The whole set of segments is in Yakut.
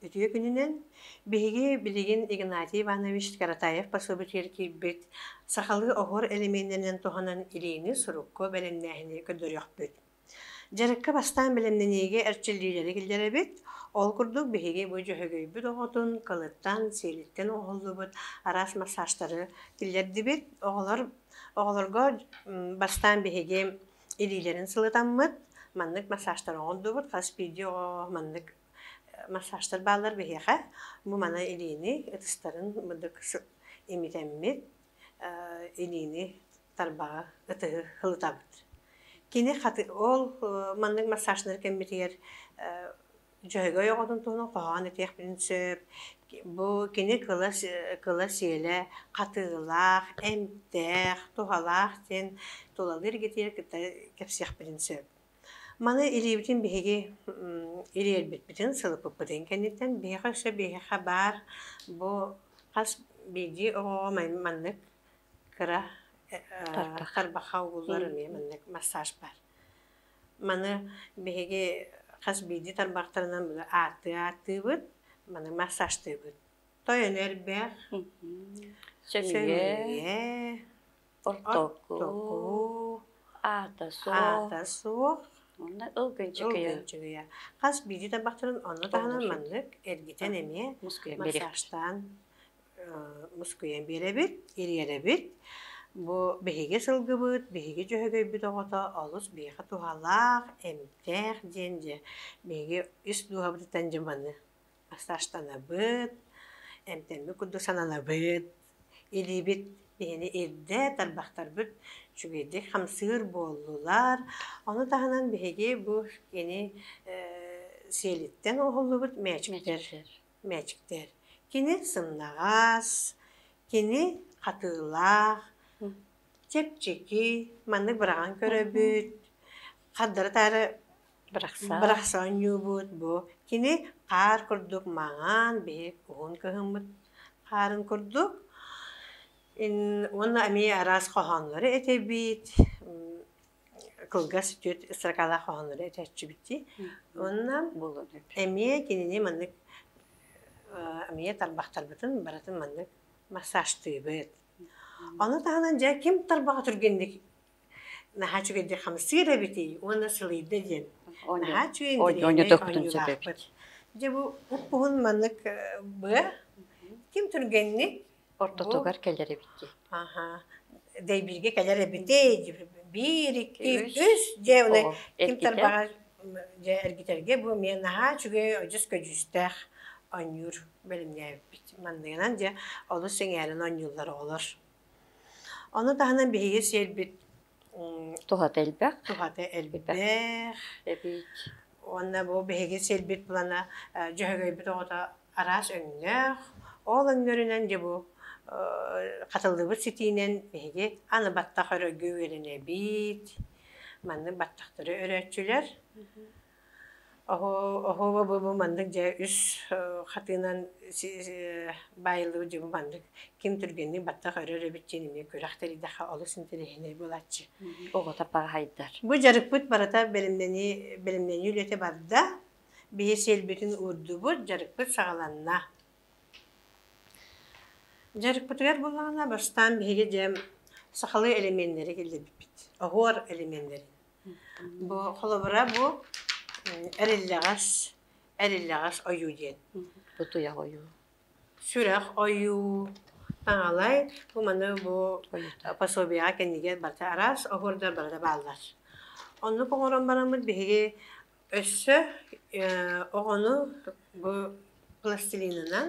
Үтүө күнүнэн! Биһиги билигин Игнатий Иванович Каратаев пособиетыгар киирбит сахалыы оһуор элемиэннэринэн туһанан илиини сурукку бэлэмнээһини көрдөрүөхпүт. Дьарыкка бастаан бэлэмнэниигэ эрчиллиилэри киллэрэбит. Ол курдук биһиги бу дьөһөгөйбүт оҕотун кылыттан, сиэлиттэн оһоллубут араас массажтары киллэрдибит. Оҕолор оҕолорго бастаан биһиги илиилэрин сылытаммыт, маннык массажтары оҥордубут. Хас биирдии оҕо маннык массажтар бааллар биһиэхэ бу мана илиини ытыстарын мындык имитэммит илиини тарбаҕа ытыһы ылытабыт кини хаты ол маннык массажнары кэммитигэр дьөһөгөй оҕотун туһунан хоһоон этиэхпитин сөп бу кини кыла кыла сиэлэ хатыылаах эмтээх туһалаах диэн тулалыыр эргитиир кытта кэпсиэхпитин сөп Маны илиибитин биһиги илиэрбиппитин сылыппыппытын кэнниттэн биһиэхэ өссө биһиэхэ баар бу хас биирдии оҕоҕо маннык кыра тарбаха угуллар эмиэ маннык массаж баар. Маны биһиги хас биирдии тарбахтарынан били ааттыы ааттыыбыт, маны массажтыыбыт. Той өлө элбэх, сөмүйэ ортоку, аата суох, онно ылгынчыгыйа. Хас биирдии тарбахтарын онно таһынан маннык эргитэн эмиэ массажтаан мускуйан биэрэбит, ириэрэбит. Бу биһиги сылгыбыт, биһиги дьөһөгөйбүт оҕото олус биһиэхэ туһалаах, эмтээх диэн дьэ биһиги ис дууһабытыттан дьэ маны массажтанабыт, эмтэммит курдук сананабыт. Илиибит биһини ирдэ тарбахтарбыт үчүгэйдик хамсыыр буоллулар. Ону таһынан биһиги бу кини сиэлиттэн оһуллубут мээчиктэр, мээчиктэр. Кини сымнаҕас, кини хатыылаах, чэпчэки, маннык быраҕан көрөбүт, хардары-таары Бырахсаан. Бырахсаан ньуубут бу кини хаар курдук маҥаан биһи куһун кыһыммыт хаарын курдук уонна эмиэ араас хоһооннору этэбит кылгас үтүө строкалаах хоһооннору этэччибиттии уонна эмиэ кинини маннык эмиэ тарбахтарбытын барытын маннык массажтыыбыт. Ону таһынан дьэ ким тарбаҕа түргэнник наһаа үчүгэйдик хамсыыр эбитий уонна сылыйда диэн наһаа үчүгэй оонньуулаахпыт дьэ бу уппуһун маннык быа ким түргэнник ортотугар кэлэр эбит аха дэйбирге кэлэр эбитей биир икки үс дьэ оны ким тарбаҕа дьэ эргитэргэ бу эмиэ наһаа үчүгэй одьус көдьүүстээх оонньуур бэлэмнээбиппит манныгынан дьэ олус сэҥээрэн оонньууллар оҕолор Ону таһынан биһиги сиэрбит Туһата элбэх. Туһата элбэх. Эбиик. Уонна бу биһиги сиэрбит плана Дьөһөгөйбүт оҕото араас өҥнөөх, ол өҥнөрүнэн дьэ бу хатыллыбыт ситиинэн биһиги аны баттах өрөггө үөрэнэбит. Маннык баттахтары өрөөччүлэр. Оһуоба буолбу маннык дьэ үс хатыынан баайыллыбыт дьону маннык ким түргэнник баттах өрөр эбит диэн эмиэ күрэх тэрийдэххэ олус интэриэһинэй буолааччы. Оҕото паҕаһайдар. Бу дьарыкпыт барыта бэлэмнэнии бэлэмнэнии үлэтэ барда. Биһи сиэлбитин уурдубут, дьарыкпыт саҕаланна. Дьарыкпытыгар буоллаҕына бастаан биһиги дьэ сахалыы элеменнэри киллэрбиппит, оһуор элеменнэрин. Бу холобура бу эриллэҕэс эриллэҕэс ойуу диэн. Бу туйах ойуу. Сүрэх ойуу. Таҥалай бу маны бу пособиеҕа кэннигэр барыта араас оһуордар барыта бааллар. Оннук оҥорон бараммыт биһиги өссө оҕону бу пластилинынан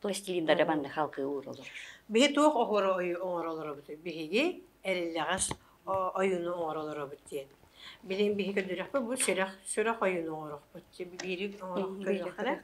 пластилиннары манны халкы уурулар. Биһи туох оһуора ойу оҥоролоробут? Биһиги эриллэҕэс ойуну оҥоролоробут диэн. Билин биһи көрдүрөхпүт бу сүрэх сүрэх ойуну оҥорохпут. Биири оҥорох көрдөххө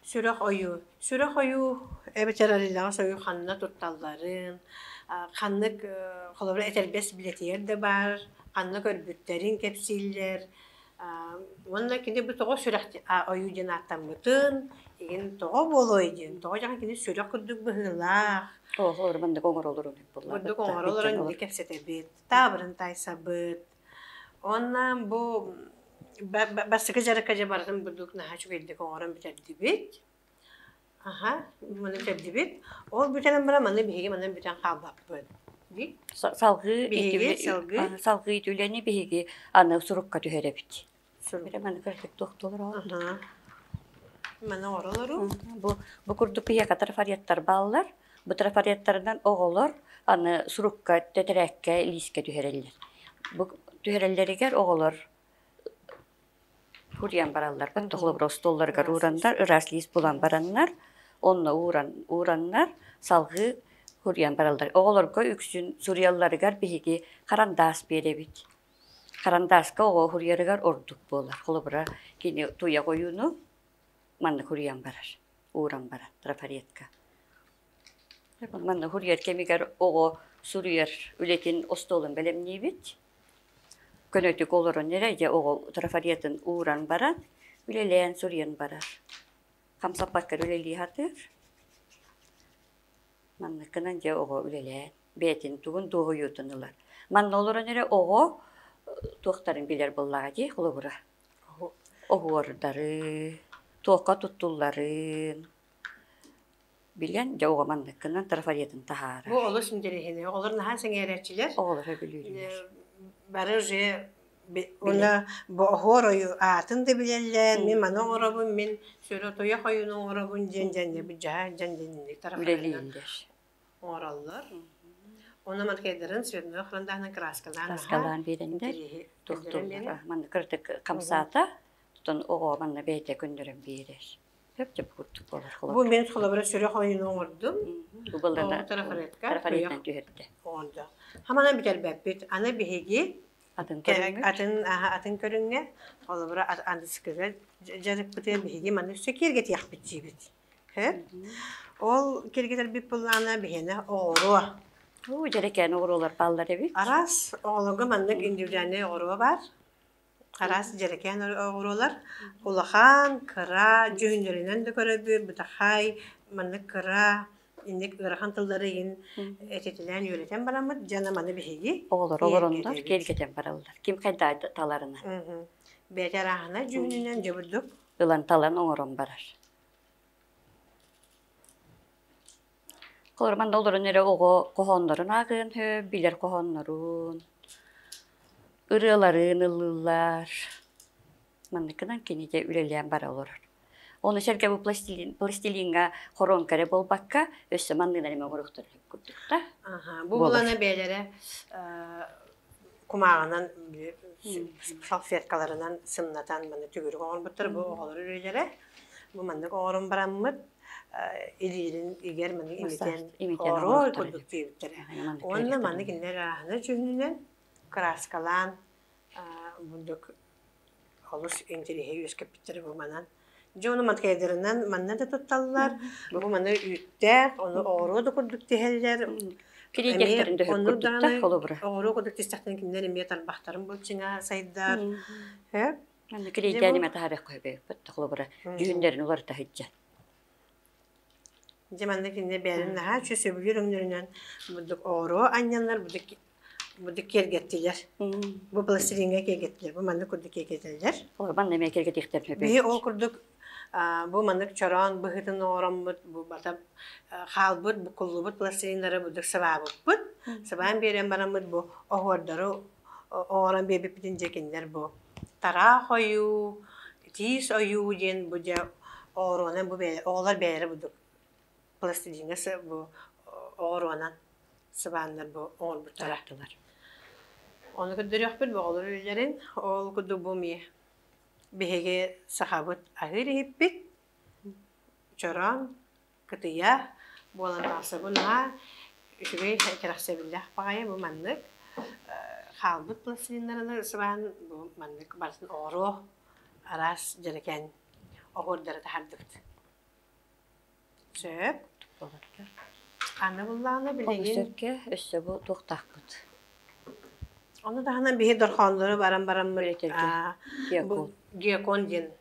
сүрэх ойу. Сүрэх ойу эбэтэр эриллэҕэс ойу ханна тутталларын, ханнык холобура этэрбэс билэтигэр да баар, ханна көрбүттэрин кэпсииллэр. Уонна кини бу тоҕо сүрэх ойуу диэн ааттаммытын, игин тоҕо буолуой диэн, тоҕо дьахан кини сүрэх курдук быһыылаах, Тоһолор мандык оҥоролорун бутук курдук оҥоро олорон indi кэпсэтэбит, таабырын таайсабыт. Онно бу бастакы дьарыкка дьэ барытын бурдук наһаа үчүгэйдик оҥорон бүтэрдибит. Аһа, маны кэрдибит. Ол бүтэрэн баран маны биһиги манан бүтэн хаалбаппыт. Дии. Са- салгыы Биһиги, ити- салгыы. а, салгыы ити үлэни биһиги аны сурукка түһэрэбит. Сурук. Бэрэ маны кэрдик туох толороо. Аһа. Маны оролору. Бу бу курдук киһиэхэ трафареттар бааллар. Бу трафареттарынан оҕолор аны сурукка, тэтэрээккэ, лиискэ түһэрэллэр. Бу түһэрэллэригэр оҕолор Уурайан баралларга толобура остуолларыгар уураннар ыраас лиис булан бараннар онно ууран уураннар салгыы уурайан бараллар. Оҕолорго үксүн суруйалларыгар биһиги харандаас биэрэбит. Харандааска оҕо уһуруйарыгар ордук буолар. Холобура кини туйах ойууну маннык уруйан барар, ууран барар трафаретка. Манна уһуруйар кэмигэр оҕо суруйар үлэтин остуолун бэлэмниибит. Көнөтүк олорон эрэ дьэ оҕо трафаретын ууран баран, үлэлээн суруйан барар. Хамсаппаккар үлэлии сатыыр. Манныккынан дьэ оҕо үлэлээн бэйэтин тугун дуоһуйуутун ылар. Манна олорон эрэ оҕо туохтарын билэр буоллаҕа дии холобура. Оһуордары, туохха туттулларын Билэн, дьэ уҕаманныккынан трафаретын таһаара. Бу олус интэриэһинэй. Оҕолор наһаа сэҥээрээччилэр. Оҕолор өгүлүүрүлэр. Бары уже уна бооһор ойу аатын да билэллэр. Мин маны оҥоробун, мин сүрө туйах ойуну оҥоробун диэн дьэннэбит дьаһаа дьэн дэнни тарапаларынан оҥороллор. Оны манкайдарын свидной храндаһынан краскалаан краскалаан биэрэннэр тухтурдара манна кыртык хамсаата тутан оҕо манна бэйэтэ күндөрөн биэрэр. Бу мен холобура сүрөх ойуну оҥордум. Убаллана тарафарыттан түһэрдэ. Оонда. Хамаҕан бүтэрбэппит. Аны биһиги атын көрүҥҥэ атын атын көрүҥҥэ холобура андыскыга дьарыкпыты биһиги манна өссө киэргэтиэхпит диибит. Ол киэргэтэрбит былаана биһиэнэ оҕоруо. Уу дьэрэкээн оҕоруолар бааллар эбит. Араас оҕолорго маннык индивидуальнай оҕоруо бар. араас дьэрэкээн оҕуруолар улахан, кыра, дьүһүннэринэн да көрөбүт, бытахай, маннык кыра, инник ыарахан тыллары игин этитинээн үөрэтэн бараммыт, дьана маны биһиги оҕолор олороннор киэргэтэн бараллар. Ким хайдаа таларынан. Бэти арааһына дьүһүнүнэн дьыбырдык ылан талан оҥорон барар. Холоромон да олорон эрэ оҕо хоһооннорун ааҕыан сөп, билэр хоһооннорун, ырыаларын ыллыыллар. Манныкынан кинигэ үлэлээн бара олорор. Ону сэргэ бу пластилин пластилиҥҥа хоруоҥка эрэ буолбакка, өссө манныгы эмэ оҥоруохтарын сөп курдук да. Аха, бу булана бэйэлэрэ кумааҕынан салфеткаларынан сымнатан манна төгүрүк оҥорбуттар бу оҕолор үрүлэрэ бу маннык оҕорун бараммыт илиирин игэр маннык имитэн ооруу курдук диэбиттэрэ уонна маннык иннэр ааһына чүннүнэн краскалаан бурдук олус интириэһи үөскэппиттэр бу манан дьону маткайдырынан манна да тутталлар бу маны үүттээх ону оҕуруо да курдук тиһэллэр кирийдэртэрин даҕаны холобура оҕуруо курдук тистэхтэн кинилэр эмиэ тарбахтарын былчиҥа сайдар аны кирийдээн имэ таһа бэххө бэппит холобура дүүннэрин уларыта сыдьан Дьэ манна кинини бэйэлэрин наһаа үчүгэй сөбүлүүр өҥнөрүнэн бурдук оҕуруо анньаллар, бурдук бурдук киэргэттилэр. Бу пластилиҥҥа киэргэттилэр. Бу маннык курдук киэргэтэллэр. Орбан эмиэ киэргэтиэхтэр сөп. Биһи ол курдук аа, бу маннык чороон быһыытын оҥороммут, бу бата э, хаалбыт, бу куллубут пластилиннары бурдук сабаабыппыт. Сабаан биэрэн бараммыт бу оһуордары о- оҥорон биэрбиппитин дьэ кинилэр бу Тараах ойуу, тиис ойуу диэн бу дьэ оҕуруонан бу бэйэ оҕолор бэйэлэрэ бу пластилиҥҥа сы бу оҕуруонан сыбааннар бу оҥорбуттара. Ону көрдөрүөхпүт оҕолор үөрэрин. Ол курдук бу эмиэ биһиги сахабыт аһыыр иһиппит, чороон кытыйа буолан тахсабын наһаа үчүгэй кэрэхсэбиллээх баҕайы бу маннык хаалбыт пластилиннараны сыбаан бу маннык барытын оҕуруо араас дьэрэкээн оһуордары таһардыбыт сөп аны буллаҕына билигин сэргэ өссө бу туохтаахпыт ону таһынан биһи дорхооннору баран баран гекон диэн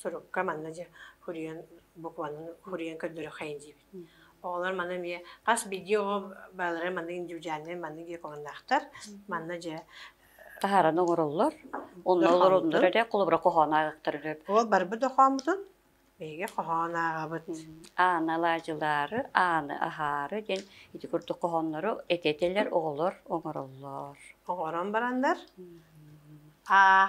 сурукка манна дьэ хуруйан букванан хуруйан көрдөрүөххэйин диибит. Оҕолор маны эмиэ хас биирдии оҕо бааларын маннык индивидуальнай маннык диакоҥнаахтар манна дьэ таһааран оҥороллор. Онно олороннор эрэ холобура хоһоон ааҕыктар өрө. Ол барбыт хоһооммутун биһиги хоһоон ааҕабыт. Ааны алаадьылаары, ааны аһаары диэн ити курдук хоһооннору этэтэлэр оҕолор оҥороллор. Оҥорон бараннар аа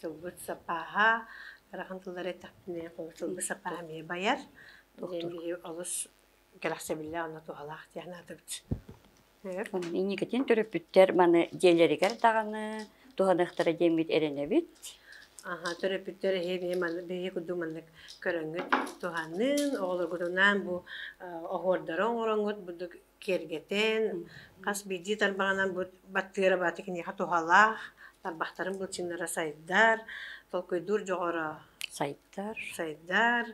тылбыт сапааһа ыарахан тыллары эттэхпинэ тылбыт сапааһа эмиэ байар доктор олус кэрэхсэбиллээх онно туһалаах диэн санаатыбыт инникитин төрөппүттэр маны дьиэлэригэр даҕаны туһаныахтара диэммит эрэнэбит аха төрөппүттэр эһиги биһиги курдук маннык көрөҥҥүт туһаныын оҕолоргутунаан бу оһуордары оҥороҥҥут бурдук киэргэтэн, хас биирдии тарбаҕынан бу баттыыра баата киниэхэ туһалаах, тарбахтарын былчыҥнара сайдар, толкуйдуур дьоҕура сайдар, сайдар,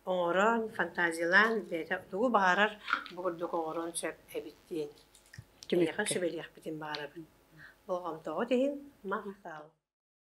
оҥорон, фантазиялаан бэйэтэ тугу баҕарар бу курдук оҥоруон сөп эбит диэн. Киниэхэ сүбэлиэхпитин баҕарабын. Болҕомтоҕут иһин махтал.